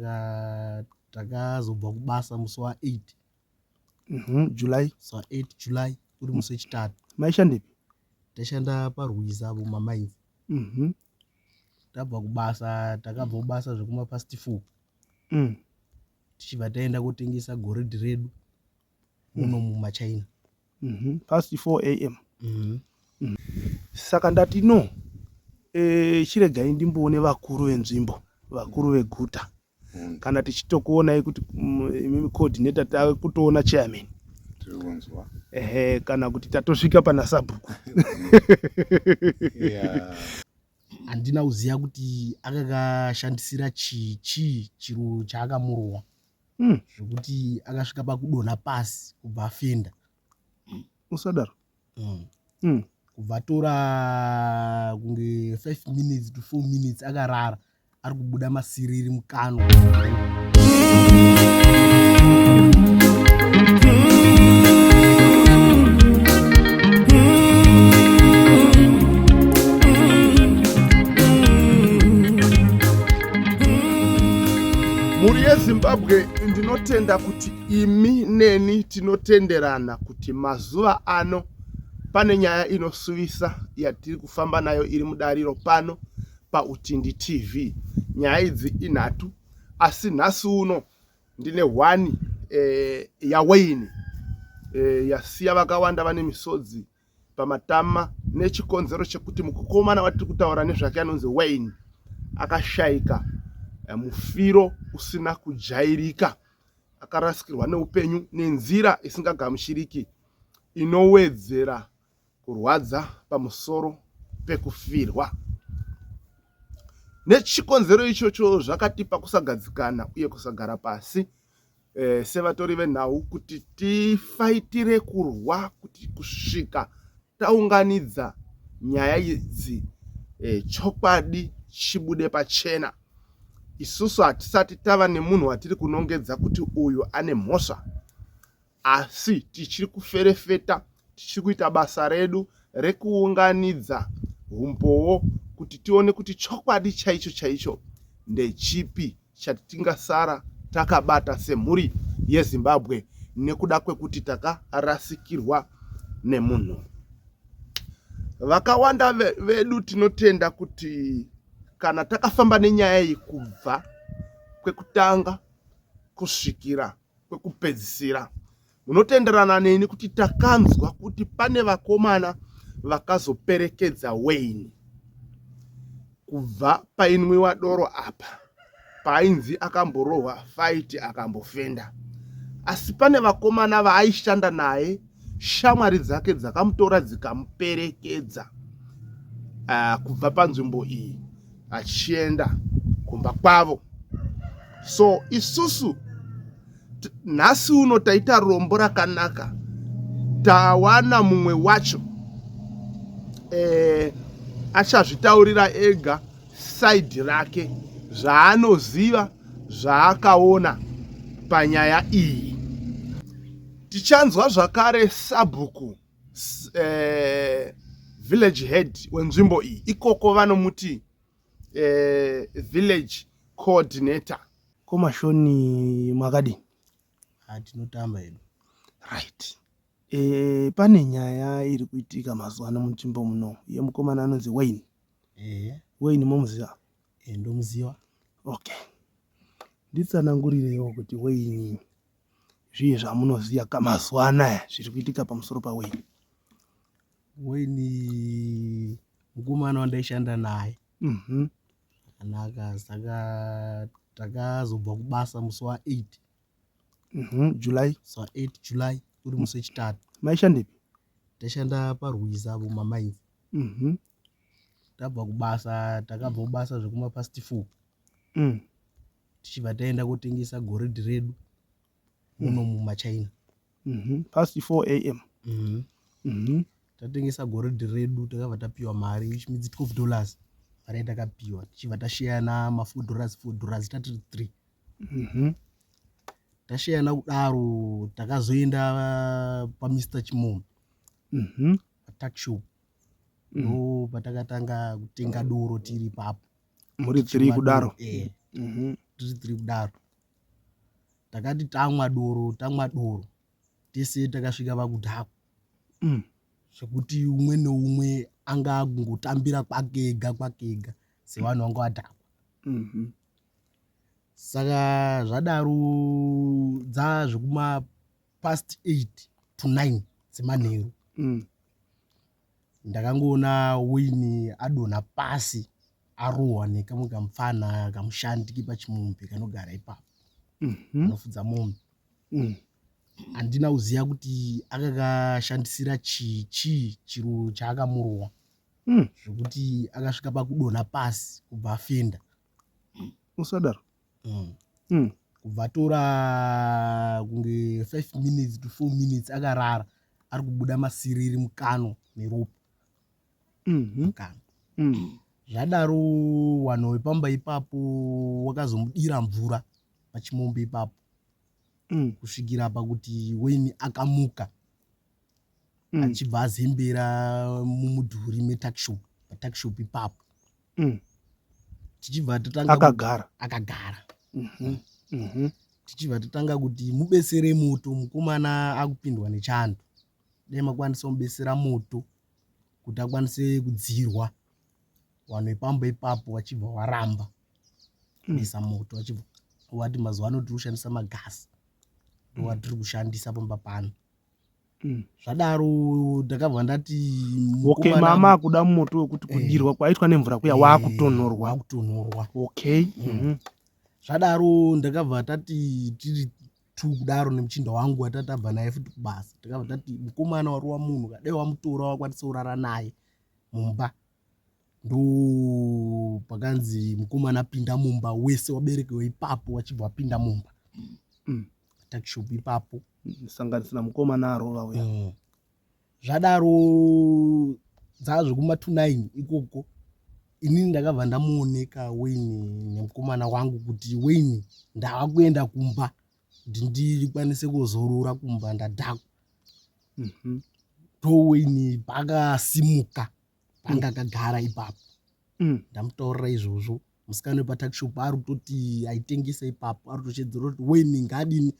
Ah, takazobva kubasa musi wa 8 Mhm, july musi wa 8 july uri musi wechitatu maishandepi taishanda parwiza apo mamainzi Mhm, tabva kubasa takabva kubasa zvekuma past four mm. tichibva taenda kotengesa goridhe redu muno mm. mumachina mm -hmm. past 4 am mm -hmm. mm. saka ndati no e, chiregai ndimboone vakuru venzvimbo vakuru veguta mm. kana tichitokuonai kuti mm, imimi coordinator tave kutoona chairman ehe kana kuti tatosvika pana sabhuku handina kuziva kuti akakashandisira chii chii chiro chaakamurowa mm. zvekuti akasvika pakudonha pasi kubva afenda mm. usadaro mm. mm. kubva atora kunge 5 minutes to 4 minutes akarara ari kubuda masiriri mukanwa mhuri yezimbabwe ndinotenda kuti imi neni tinotenderana kuti mazuva ano pane nyaya inosuvisa yatiri kufamba nayo iri mudariro pano pautindi tv nyaya idzi inhatu asi nhasi uno ndine hwani e, yawaini e, yasiya vakawanda vane misodzi pamatama nechikonzero chekuti mukomana watiri kutaura nezvake anonzi wayne akashaika eh, mufiro usina kujairika akarasikirwa neupenyu nenzira isingagamuchiriki inowedzera kurwadza pamusoro pekufirwa nechikonzero ichocho zvakatipa kusagadzikana uye kusagara pasi eh, sevatori venhau kuti tifaitire kurwa kuti kusvika taunganidza nyaya idzi eh, chokwadi chibude pachena isusu hatisati tava nemunhu watiri kunongedza kuti uyu ane mhosva asi tichiri kuferefeta tichiri kuita basa redu rekuunganidza humbowo kuti tione kuti chokwadi chaicho chaicho ndechipi chati tingasara takabata semhuri yezimbabwe nekuda kwekuti takarasikirwa nemunhu vakawanda vedu tinotenda kuti kana takafamba nenyaya iyi kubva kwekutanga kusvikira kwekupedzisira munotenderana neni kuti takanzwa kuti pane vakomana vakazoperekedza wayne kubva painwiwa doro apa paainzi akamborohwa faiti akambofenda asi pane vakomana vaaishanda naye shamwari dzake dzakamutora dzikamuperekedza uh, kubva panzvimbo iyi achienda kumba kwavo so isusu nhasi uno taita rombo rakanaka tawana mumwe wacho eh, achazvitaurira ega saidhi rake zvaanoziva zvaakaona panyaya iyi tichanzwa zvakare sabhuku eh, village head wenzvimbo iyi ikoko vanomuti eh, village coordinator komashoni makadini ah, tinotamba hedu right e, pane nyaya iri kuitika mazuva ano munzvimbo muno yemukomana anonzi wayne e. wayne momuziva e, ndomuziva okay nditsanangurireiwo kuti wayne zviye zvamunoziva ka mazuva anaya zviri kuitika pamusoro paweni weni mukomana wandaishanda naye mhm. akanaka saka takazobva kubasa musi wa 8 mhm, july musi wa 8 july uri musi wechitatu maishandepi taishanda parwiza apo mamainzi mhm. tabva kubasa takabva kubasa zvekumapasti four mm. tichibva taenda kotengesa goridhi redu muno mm. mumachina mm -hmm. past 4 am mm -hmm. mm -hmm. tatengesa goridhi redu takabva tapiwa mari which means 12 dollars mari yatakapiwa tichibva tasheyana ma4 dollars 4 dollars tatiri three mm -hmm. tasheyana kudaro takazoenda uh, pamr chimom mm -hmm. patakshop mm. ndo mm -hmm. patakatanga kutenga doro tiri papo muri three kudaro eh mhm. tiri three kudaro takati tamwa doro tamwa doro tese takasvika vakudhakwa mm. zvekuti umwe neumwe anga akungotambira kwake ega kwake ega sevanhu vanga vadhakwa mhm. saka zvadaro dzazvekuma past eight to nine dzemanheru mm. Ndakangoona Winnie adonha pasi arohwa nekamwe kamupfana kamushandi kepachimombe kanogara ipapo kanofudza mhm. mombe. Mm. Handina kuziva kuti akakashandisira chii chii chiro chaakamurohwa mm. zvekuti akasvika pakudonha pasi kubva afenda. usadaro mm. mm. kubva tora kunge 5 minutes to 4 minutes akarara ari kubuda masiriri mukano neropa mm-hmm. mukano mm. zvadaro wanhu wepamba ipapo wakazomudira mvura pachimombe ipapo mm. kusvikira pakuti weni akamuka mm. achibva azembera mumudhuri metakshop patakshop ipapo Mm. tichibva tatanga kuti- akagara akagara Mhm, mhm. tichibva tatanga kuti mubesere moto mukomana akupindwa nechando dai makwanisa kumubesera moto kuti akwanise kudzirwa vanhu vepamba ipapo vachibva varamba Mm. kuisa moto vachibva vati mazuva ano tiri kushandisa magasi ndowatiri kushandisa pamba pano Mm. zvadaro ndakabva ndati okay mama akuda moto wekuti eh. kudirwa eh, kwaitwa nemvura kuya eh, wakutonhorwa wakutonhorwa okay mm. mm. zvadaro ndakabva tati tiri two kudaro nemuchinda wangu watatabva naye futi kubasa takabva tati mukomana wari wamunhu kadai wamutora wakwanisa kurara naye mumba ndoo pakanzi mukomana apinda mumba wese waberekewa ipapo wachibva wapinda mumba mm. takishop ipapo mm, sanganisira mukomana arova uya mm. zvadaro dzaa zvekumatunine ikoko inini ndakabva ndamuoneka wayne nemukomana wangu kuti wayne ndava kuenda kumba kuti ndikwanise kuzorora kumba ndadhakwa mm -hmm. to wayne pakasimuka panga akagara ipapo mm. ndamutorera izvozvo musikana wepatakishop ari kutoti aitengesa ipapo ari kutochedzera kuti weni ngadini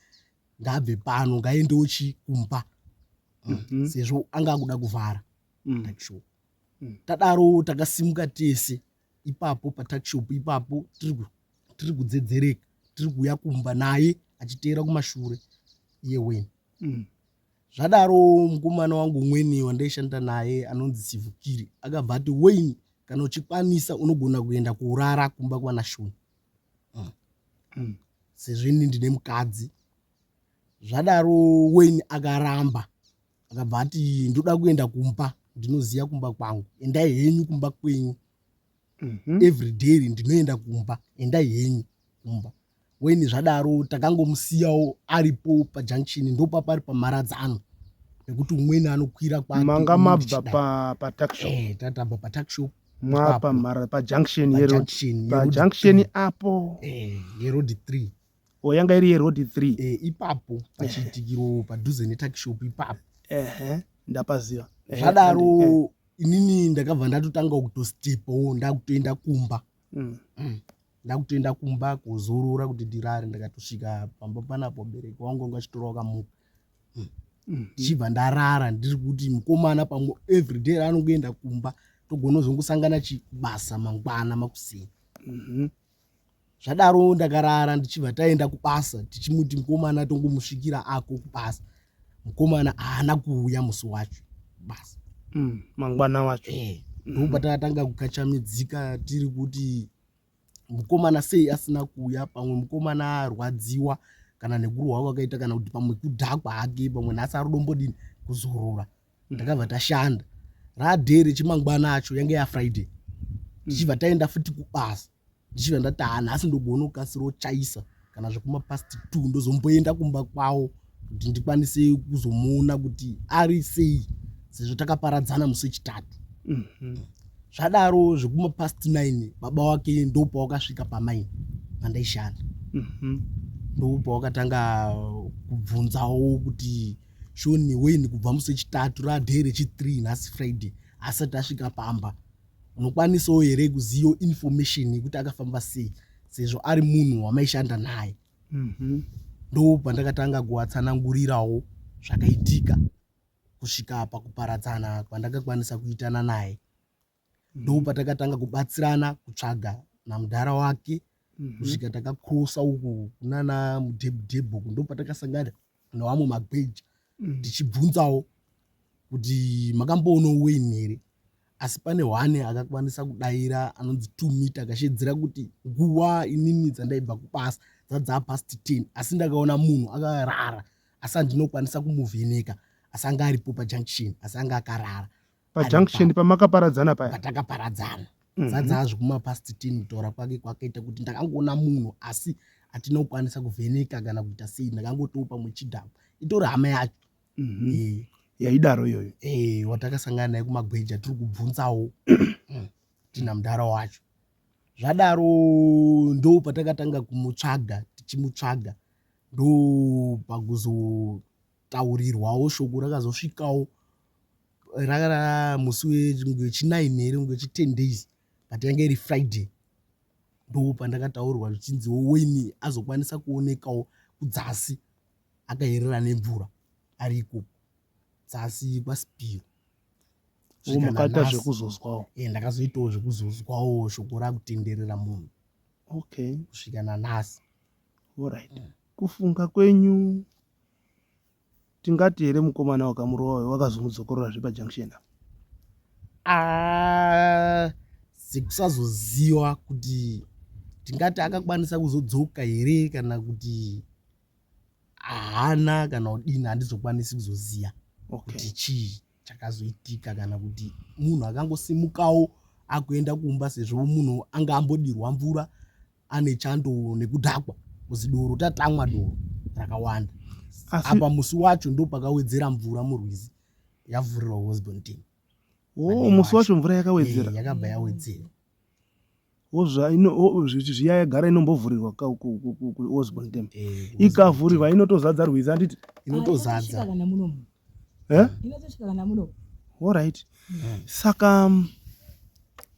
ngabve pano ngaendewo chi kumba mm, mhm. sezvo anga akuda kuvhara mm. takishop mm. tadaro takasimuka tese ipapo patakishop ipapo tiri kudzedzereka tiri kuuya kumba naye achiteera kumashure iye weni Zvadaro mukomana wangu umweni wandaishanda naye anonzi Sivukiri akabva ati Wayne kana uchikwanisa unogona kuenda kurara kumba kwana Shoni. Mm. Mm. Sezvo ini ndine mukadzi. Zvadaro Wayne akaramba akabva ati ndoda kuenda kumba ndinoziva kumba kwangu endai henyu kumba kwenyu mm -hmm. every day ndinoenda kumba endai henyu kumba weni zvadaro takangomusiyawo aripo pajunction ndopapari pamharadzano nekuti umweni anokwira kwamanga mabva pataxshop eh, tatamba pataxshop mwapamhara pajunction yero pajunction apo eh, yerodi three o oh, yanga iri yeroad three e, ipapo pachiitikiro padhuze netakishop ipapo ehe ndapaziva zvadaro inini ndakabva ndatotanga kutostipawo ndakutoenda kumba mm. mm. ndakutoenda kumba kuzorora kuti ndirare ndakatosvika pamba panapo bereki wangu anga achitora wakamuka mm. mm. ndichibva mm. ndarara ndiri kuti mukomana pamwe everyday anongoenda kumba togona kuzongosangana chibasa mangwana makuseni mm -hmm. zvadaro ndakarara ndichibva taenda kubasa tichimuti mukomana tongomusvikira ako kubasa mukomana haana kuuya musi wacho basa mm, mangwana wacho eh, mm-hmm. ndobva takatanga kukachamidzika tiri kuti mukomana sei asina kuuya pamwe mukomana arwadziwa kana nekurwa kwakaita kana kuti pamwe kudhakwa hake pamwe nhasi arudombodini kuzorora ndakabva tashanda radhee rechimangwana acho yange yafriday ndichibva taenda futi kubasa ndichibva ndati ha nhasi ndogona kukasira ochaisa kana zvekumapast t ndozomboenda kumba kwavo kuti ndikwanise kuzomuona kuti ari sei sezvo takaparadzana musi wechitatu mhm. zvadaro zvekumapast nine baba wake ndopawakasvika pamaini pandaishanda mhm. ndopawakatanga kubvunzawo kuti shoni wayne kubva musi wechitatu raday rechithree nhasi friday asati asvika pamba unokwanisawo here kuziva information yekuti akafamba sei sezvo ari munhu wamaishanda naye mhm. ndo pandakatanga kuwatsanangurirawo zvakaitika kusvika pakuparadzana kwandakakwanisa kuitana naye ndopatakatanga kubatsirana kutsvaga namudhara wake mhm. kusvika takakrosa uku kunana mudhebhudhebhu uku ndopatakasangana nevamwe magweja mhm. tichibvunzawo kuti makamboonawo weni here asi pane hwane akakwanisa kudaira anonzi two mita akashedzera kuti nguva inini dzandaibva kubasa dzadzaa past ten asi ndakaona munhu akarara asi andinokwanisa kumuvheneka asi anga aripo pajunction asi anga akarara pajunction pamakaparadzana paya patakaparadzana mhm. zadzazvi kumapast ten kutaura kwake kwakaita kuti ndakangoona munhu asi hatina kukwanisa kuvheneka kana kuita sei ndakangotiwo pamwe chidhama itori hama yacho mhm. eh. yaidaro iyoyo eh, watakasangana naye kumagweja tiri kubvunzawo mm, tina mudhara wacho zvadaro ndo patakatanga kumutsvaga tichimutsvaga ndo pakuzo kutaurirwawo shoko rakazosvikawo rava musi wechinine here kunge wechiten days but yange iri friday ndo pandakataurirwa zvichinziwo weni azokwanisa kuonekawo kudzasi akayerera nemvura ari ikoko dzasi kwasipiro makaita zvekuzozwawo e ndakazoitawo zvekuzozwawo shoko rakutenderera munhu okay kusvika nanhasi orit kufunga kwenyu tingati here mukomana wakamurova uyo wakazomudzokororazve pajunction ah, sekusazoziva kuti tingati akakwanisa kuzodzoka here kana kuti haana kana kudini handizokwanisi kuzoziva okay. kuti chii chakazoitika kana kuti munhu akangosimukawo akuenda kumba sezvo munhu anga ambodirwa mvura ane chando nekudhakwa kuzi doro tatamwa doro rakawanda apa musi wacho ndopakawedzera mvura murwizi yavhurirwa hosbon team oh, musi wacho mvura yakawedzera eh, yakabva yawedzera zviya yagara inombovhurirwa kuosbon tem eh, ikavhurirwa inotozadza rwizi anditi inotozadza eh? orit mm. saka um,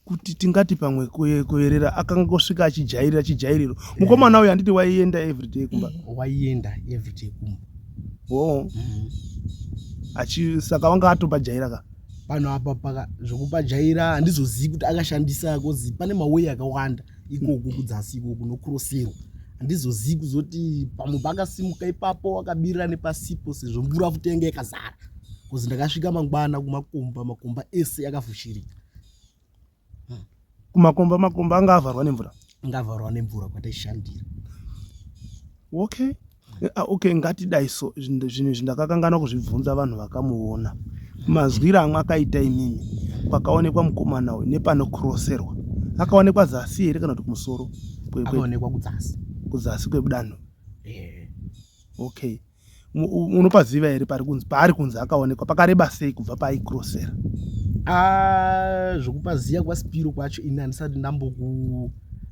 kuti tingati pamwe kuerera akangosvika achijairira chijairiro eh. mukomana uyo handiti waienda everyday kumba eh, waienda everyday kumba o mm. achi saka wanga atopajaira ka pano apa paka zvokupajaira handizozivi kuti akashandisa kozi pane mawei akawanda ikoku kudzasi ikoku nokuroserwa handizozivi kuzoti pamwe pakasimuka ipapo wakabirira nepasipo sezvo mvura futi yanga yakazara bcause ndakasvika mangwana kumakomba makomba ese yakafushirika hmm. kumakomba makomba anga avharwa nemvura anga avharwa nemvura kwataishandira okay Eh, ah, okay ngatidai so zvinhu izvi ndakakanganwa kuzvibvunza vanhu vakamuona mazwiro amwe akaita inini pakaonekwa mukomana uyu nepanokroserwa akaonekwa zasi here kana kuti kumusoro kuzasi kwedanho eh. okay unopaziva here paari kunzi akaonekwa pakareba sei kubva paaikrosera ah, zvokupaziva kwaspiro kwacho ini handisati ndamboku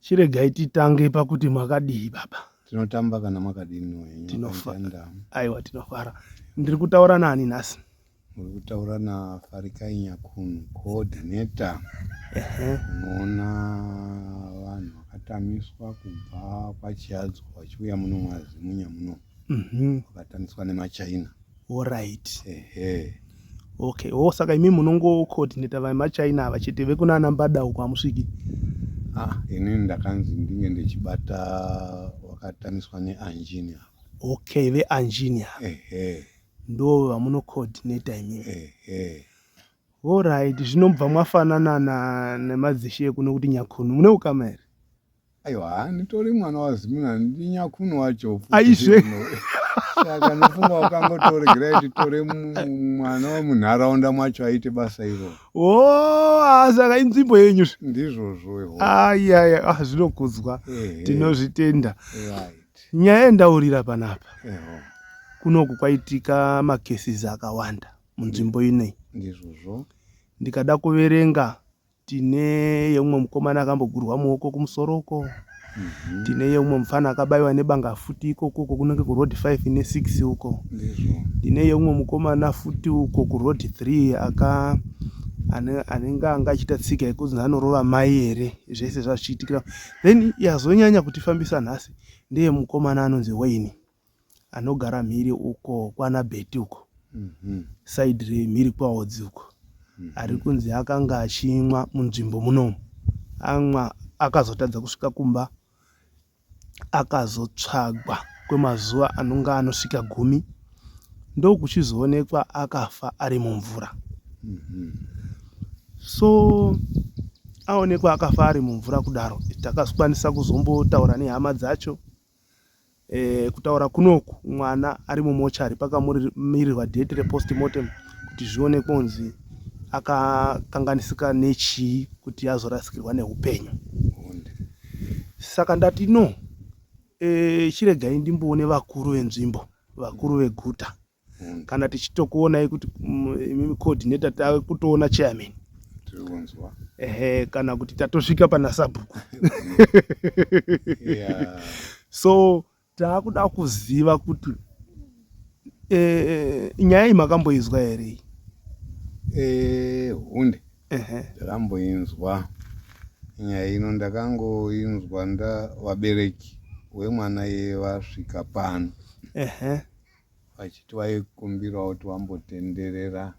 chiregai titange pakuti makadii baba tinotamba kana makadini tinofara aiwa tinofara ndiri kutaura nani nhasi muri kutaura nafarikai nyakunu coordinator unoona vanhu vakatamiswa kubva kwachiadzwa vachiuya muno mwazimunya muno mhm. vakatangiswa nemachina Alright. Ehe. Okay. Oh, saka imi munongo coordinator vai machina ava chete vekuna ana mbada uko amusviki. Ah, ini ndakanzi ndinge ndichibata wakataniswa neanjini apa. Okay, veanjini apa. Ehe. Ndo vamuno coordinator imi. Ehe. Alright, zvinobva mwafanana na nemadzishe kuno kuti nyakhunu. Mune ukama here? aiwa haa nditori mwana wazimuna ndi nyakunu wacho aizve saka ndofunga wakangotoregera kuti tore mwana wemunharaunda mwacho aite basa iro o oh, saka inzvimbo yenyu ndizvozvo ayaya ah, zvinokudzwa tinozvitenda nyaya yendaurira panapa kunoku kwaitika makesis akawanda munzvimbo inei ndizvozvo ndikada kuverenga Tine yeumwe mukomana akambogurwa muoko kumusoro uko. Mhm. Tine yeumwe mufana akabaiwa nebanga futi ikoko uko kunenge kuroad 5 ne 6 uko. Tine yeumwe mukomana futi uko kuroad 3 aka anenge anga achiita tsika yekuti anorova mai here zvese zvazvichiitikira then yazonyanya kutifambisa nhasi ndeye mukomana anonzi waini anogara mhiri uko kwana beti uko mm -hmm. saidi remhiri kwaodzi uko mm -hmm. ari kunzi akanga achimwa munzvimbo munomu amwa akazotadza kusvika kumba akazotsvagwa kwemazuva anonga anosvika gumi ndokuchizoonekwa akafa ari mumvura mm -hmm. so aonekwa akafa ari mumvura kudaro takakwanisa kuzombotaura nehama dzacho e, kutaura kunoku mwana ari mumochari pakamiririrwa date repostmortem kuti zvione kunzi akakanganisika nechii kuti azorasikirwa neupenyu saka ndati no e, chiregai ndimboone vakuru venzvimbo vakuru veguta mm. kana tichitokuonai kuti mm, imimi coordinator tave kutoona chairman ehe kana kuti tatosvika pana sabhuku yeah. so taakuda kuziva kuti e, e, nyaya iyi makamboinzwa here e, hunde ndakamboinzwa nyaya ino ndakangoinzwa nda vabereki wemwana yevasvika pano vachiti vaikumbirawo kuti vambotenderera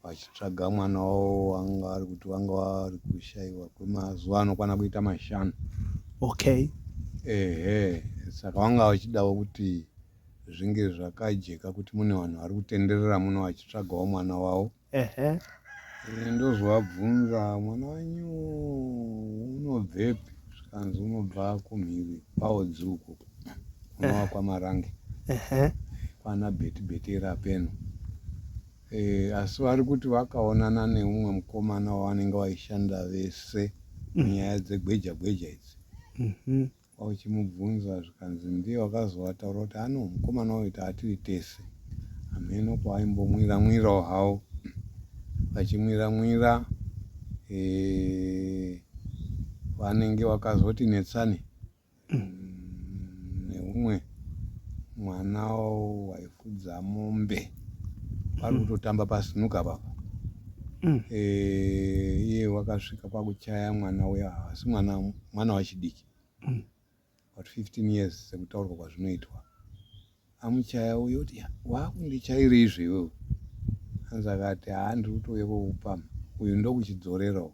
vachitsvaga mwana wavo wanga vari kuti vanga vari kushaiwa kwemazuva anokwana kuita mashanu okay ehe saka vanga vachidawo kuti zvinge zvakajeka kuti mune vanhu vari kutenderera muno vachitsvagawo mwana wavo Ehe. Eh, ndozovabvunza mwana wenyu unobvepi zvikanzi unobva kumhiri kwaodzuku unowa kwamarange kwana betibetera peno e, asi vari kuti vakaonana neumwe mukomana wavanenge vaishanda vese mhm. nyaya dzegweja gweja idzi mhm. Kwauchimubvunza zvikanzi ndiye wakazovataura kuti ano mukomana uyu taatiri tese. Hamheno kwavaimbomwira mwirawo hawo vachimwira mwira eh, vanenge vakazoti netsani neumwe mwana waifudza mombe vari mm. kutotamba pasinuka papa mm. eh, iye wakasvika kwakuchaya mwana uya havasi mwana mwana wachidiki mm. but 15 years sekutaurwa kwazvinoitwa amuchaya uyo kuti wakundichaira izvi iwewe hanzi akati haa ndiri kutouya kwokupama uyu ndokuchidzorerawo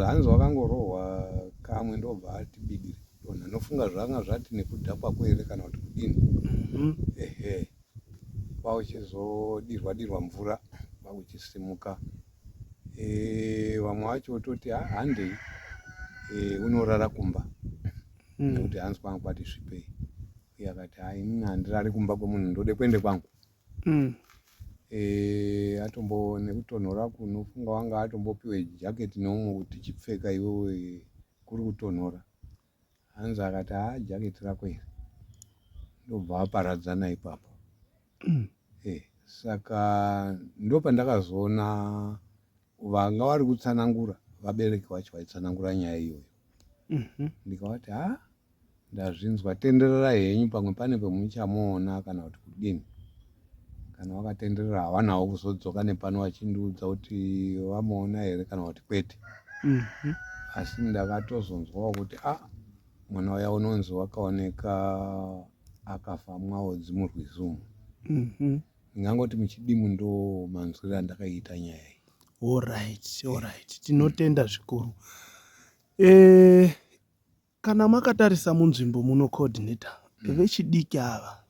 hanzi wakangorohwa kamwe ndobva ati bidiri donha nofunga zvanga zvati nekudhakwa kwere kana kuti kudini mm-hmm. ehe mm -hmm. kwakuchizodirwa dirwa mvura kwakuchisimuka e, vamwe vacho vototi ah, handei e, unorara kumba hmm. nekuti mm. hanzi kwangu kwati svipei uye akati hai ini handirari kumba kwemunhu ndode kuende kwangu mm. e, atombo nekutonhora kunofunga wanga atombopiwe jaketi neumwe kuti chipfeka iwewe kuri kutonhora hanzi akati haa jacket rako iri ndobva aparadzana ipapo mm. hey, eh, saka ndopandakazoona vanga vari kutsanangura vabereki vacho vaitsanangura nyaya iyoyo mm -hmm. ndikavati ha ndazvinzwa tenderera henyu pamwe pane pemuchamuona kana kuti kudini kana vakatenderera havanawo kuzodzoka nepano vachindiudza kuti vamuona here kana kuti kwete mhm. asi ndakatozonzwawo kuti a ah, mwana waya unonzi wakaoneka akafa mwaodzi murwizi umu mhm. ndingangoti muchidimu ndo manzwiro andakaita nyaya iyi orit orit tinotenda zvikuru eh, Kana makatarisa munzvimbo muno coordinator mm. vechidiki ava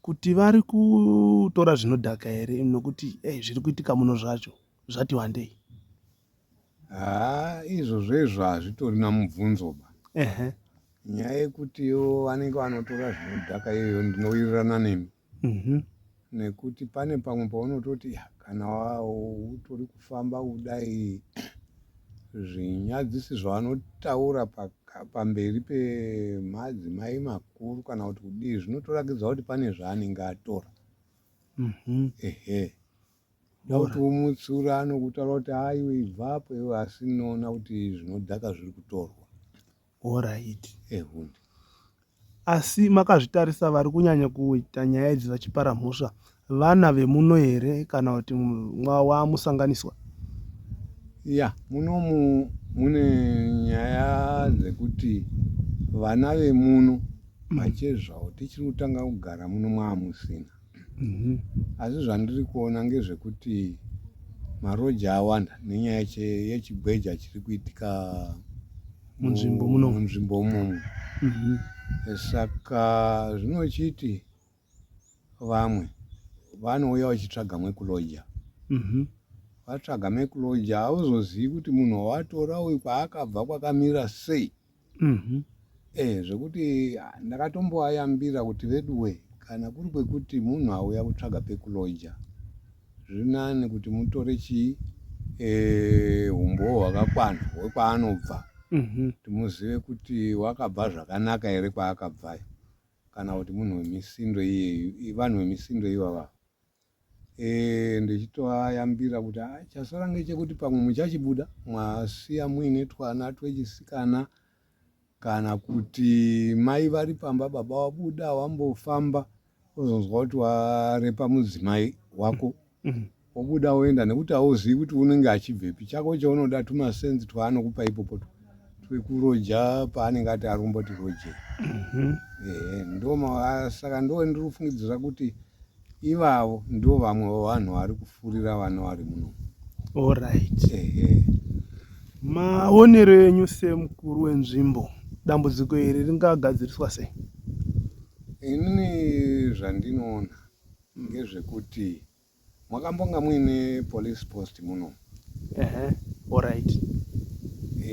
kuti vari kutora zvinodhaka here nokuti hey, zviri kuitika muno zvacho zvati wandei haa izvozvo izvo hazvitori namubvunzo ba uh -huh. nyaya yekutiwo vanenge vanotora zvinodhaka iyoyo ndinowirirana nemi Mhm. nekuti pane pamwe paunototi "Ya, kana wa- utori kufamba kudai zvinyadzisi zvavanotaura paka- pamberi pemadzimai makuru kana kuti kudii zvinotorakidza kuti pane zvaanenge atora Mhm. ehe dauti womutsura anokutaura kuti aiwe ibvapo iwe asi noona kuti zvinodhaka zviri kutorwa Horaiti. Ehuni. Asi makazvitarisa vari kunyanya kuita nyaya idzi vachipara mhosva vana vemuno here kana kuti wamusanganiswa? Ya, munomu mune nyaya dzekuti vana vemuno machezvawo tichiri kutanga kugara muno mwamusina. Mhm. Asi zvandiri kuona ngezvekuti maroji awanda nenyaya che- yechigweja chiri kuitika mu- Munzvimbo muno. munzvimbo imomo Mhm. saka zvinochiti vamwe vanouya vachitsvaga mwekuloja Mhm. vatsvaga mekuloja hauzozivi kuti munhu wawatora uyu kwaakabva kwakamira sei mm-hmm. eh, zvekuti ah, ndakatomboayambira kuti veduwe kana kuri kwekuti munhu auya kutsvaga pekuloja zvinani kuti mutore chii eh, umbowo e, hwakakwana hwekwaanobva mm-hmm. timuzive kuti wakabva zvakanaka here kwaakabvayo kana kuti munhu wemisindo iyeyu vanhu vemisindo ivava Eh, ndichitoayambira kuti ah, chasara ngechekuti pamwe muchachibuda mwasiya muine twana twechisikana kana kuti mai vari pamba baba wabuda wambofamba ozonzwa kuti warepa mudzimai wako mm-hmm. wobuda woenda nekuti hauzivi kuti unenge achibvepi chako chaunoda tumasenzi twaanokupa ipopo twekuroja paanenge ati arumba kuti roje mm-hmm. ehe ndoma saka ndoo ndiri kufungidzira kuti Ivavo ndo vamwe vavanhu vari kufurira vana vari muno. Alright. Ehe. Maonero enyu semukuru wenzvimbo dambudziko iri ringagadziriswa sei? Inini zvandinoona ngezvekuti mwakambonga muine police post muno. ehe alright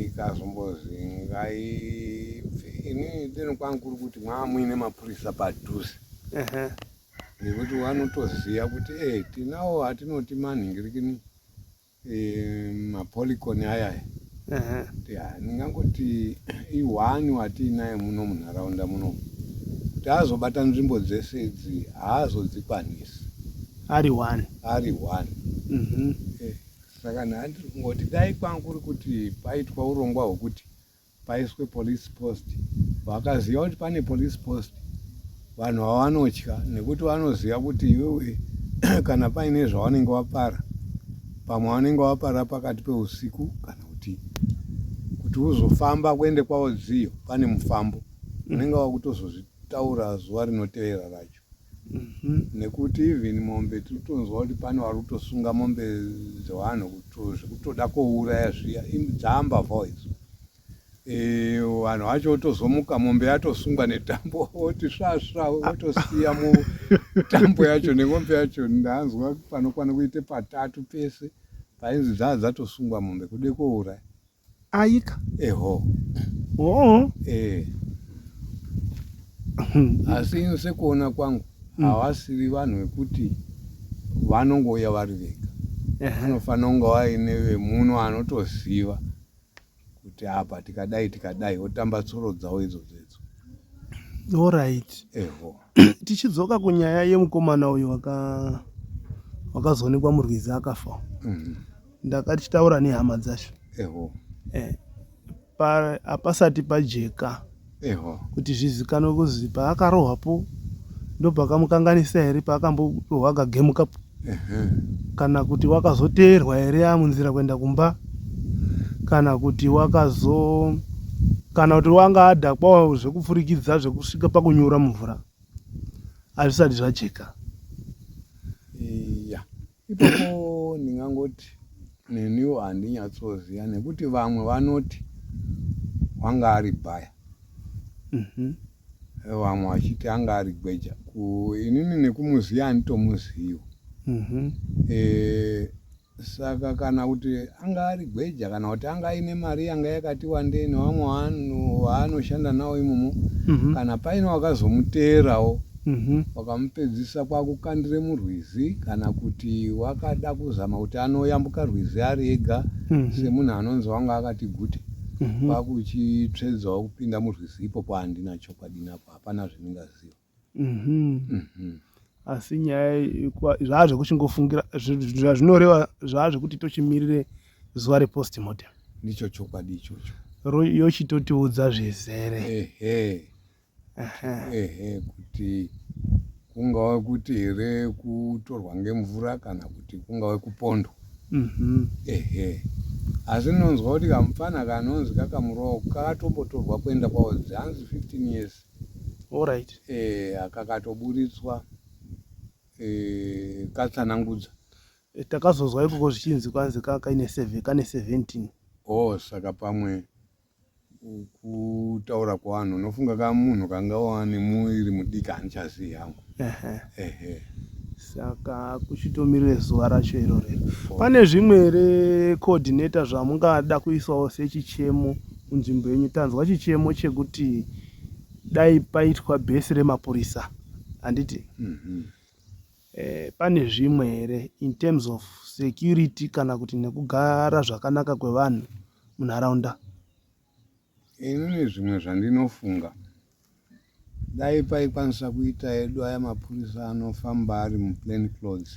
ikazombozi ngaibve ini deno kwangu kuri kuti mwamuine mapurisa padhuze ehe nekuti wanotoziva kuti e eh, tinawo atinoti manhingirikini e, eh, mapoliconi ayaya ndingangoti ihwani watiinaye muno munharaunda muno kuti azobata nzvimbo dzese idzi haazodzikwanisi ari one ari one mhm. eh, saka nhani tiri kungoti dai kwangu kuri kuti paitwa urongwa hwekuti paiswe police post vakaziva kuti pane police post vanhu vavanotya nekuti vanoziva kuti iwewe kana paine zvavanenge vapara pamwe vanenge vapara pakati peusiku kana kuti kuti uzofamba kuende kwavo dziyo pane mufambo unenge wakutozozvitaura zuva rinotevera racho Mhm, nekuti even mombe tiritonzwa kuti pane vari kutosunga mombe dzevanhu kuto zvekutoda kouraya zviya im- dzaambavhawo idzo Eh, vanhu vacho votozomuka mombe yatosungwa netambo oti svasva votosiya mu tambo yacho nemombe yacho ndanzwa panokwana kuite patatu pese painzi dzaa dzatosungwa mombe kude kouraya Ayika. Eho. Oh. Eh. Asi ino sekuona kwangu mm. havasiri vanhu vekuti vanongouya vari vega. Vanofanira kunge vaine vemuno anotoziva kuti apa tikadai tikadai votamba tsoro dzavo idzodzo idzo. Alright. Eho. Tichidzoka kunyaya yemukomana uyo waka wakazoonekwa murwizi akafa. Mm -hmm. ndakachitaura nehama dzacho eho eh, pa- hapasati pajeka eho kuti zvizikanwe kuzi paakarohwapo ndopakamukanganisa here paakamborohwa akagemukapo ehe kana kuti wakazoteerwa here amunzira kuenda kumba kana kuti wakazo kana kuti wanga adhakwawo zvekupfurikidza zvekusvika pakunyura mumvura hazvisati zvajeka iya Ipapo ndingangoti neniwo handinyatsoziva nekuti vamwe vanoti wanga ari bhaya mhm. vamwe vachiti anga ari gweja inini nekumuziva handitomuzivi mhm. eh, saka kana kuti anga ari gweja kana kuti anga aine mari yanga yakati wandei nevamwe vanhu vaanoshanda navo imomo mhm. kana paine wakazomuteerawo wakamupedzisa kwakukandira murwizi kana kuti wakada kuzama kuti anoyambuka rwizi ari ega semunhu anonzi wanga akati gute kwakuchitsvedzawo kupinda murwizi ipopo handina chokwadi nako hapana zvendingaziva asi nyaya zvaa zvekuchingofungira zvazvinoreva zvaa zvekuti tochimirire zuva repostmortem ndicho chokwadi ichocho yochitotiudza zvizere ehe ehe kuti kungava kuti here kutorwa ngemvura kana kuti kungava kupondwa mhm. ehe asi nonzwa kuti kamupfana kanonzi kakamurowa kakatombotorwa kuenda kwaozi hanzi 15 years orit eh, akakatoburitswa eh, katsanangudza eh, takazozwa ikoko zvichinzi kwanzi kakaine kane 17 o oh, saka pamwe kutaura kwevanhu unofunga ka munhu kanga wani muiri mudiki handichazivi hangu saka kuchitomirire zuva racho iroro pane zvimwe here coordinator zvamungada kuisawo sechichemo munzvimbo yenyu tanzwa chichemo chekuti dai paitwa bhesi remapurisa handiti mm -hmm. Eh, pane zvimwe here in terms of security kana kuti nekugara zvakanaka kwevanhu munharaunda inini zvimwe zvandinofunga dai paikwanisa kuita edu aya mapurisa anofamba ari muplain clothes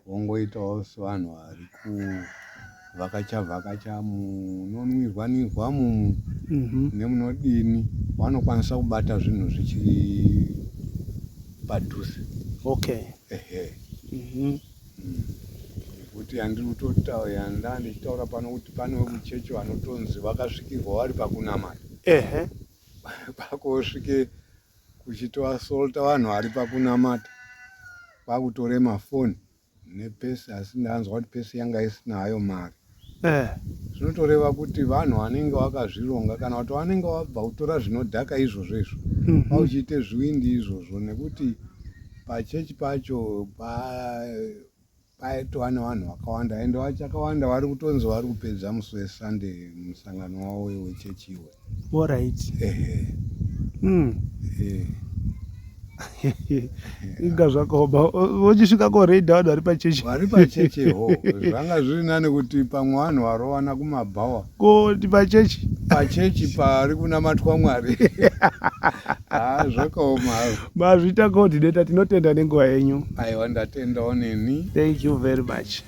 vongoitawo sevanhu vari ku vakacha vakacha munonwirwa nirwa mumu mm-hmm. nemunodini vanokwanisa kubata zvinhu zvichiri padhuze okay ehe mm-hmm. mm. kuti handiri kutotaura yanda ndichitaura pano kuti pane wekuchechi vanotonzi vakasvikirwa vari pakunamata ehe pakosvike kuchitoasolta vanhu vari pakunamata kwakutora mafoni nepesi asi ndanzwa kuti pesi yanga isina hayo mari eh. zvinotoreva kuti vanhu vanenge vakazvironga kana kuti vanenge vabva kutora zvinodhaka izvozvo izvo mm -hmm. vauchiite zviwindi izvozvo nekuti pachechi pacho paitova nevanhu vakawanda ende vachakawanda vari kutonzi vari kupedza musi wesunday musangano wavo wechechi iwe Alright. Ehe. Mm. Ehe. inga zvakaoma vochisvika koraida vanhu vari pachechi vari pachechi ho zvanga zviri nani kuti pamwe vanhu varovana kumabhawa koti pachechi pachechi pari kunamatwa mwari haa ah, zvakaoma mazvita koordinator tinotenda nenguva yenyu aiwa ndatendawo neni thank you very much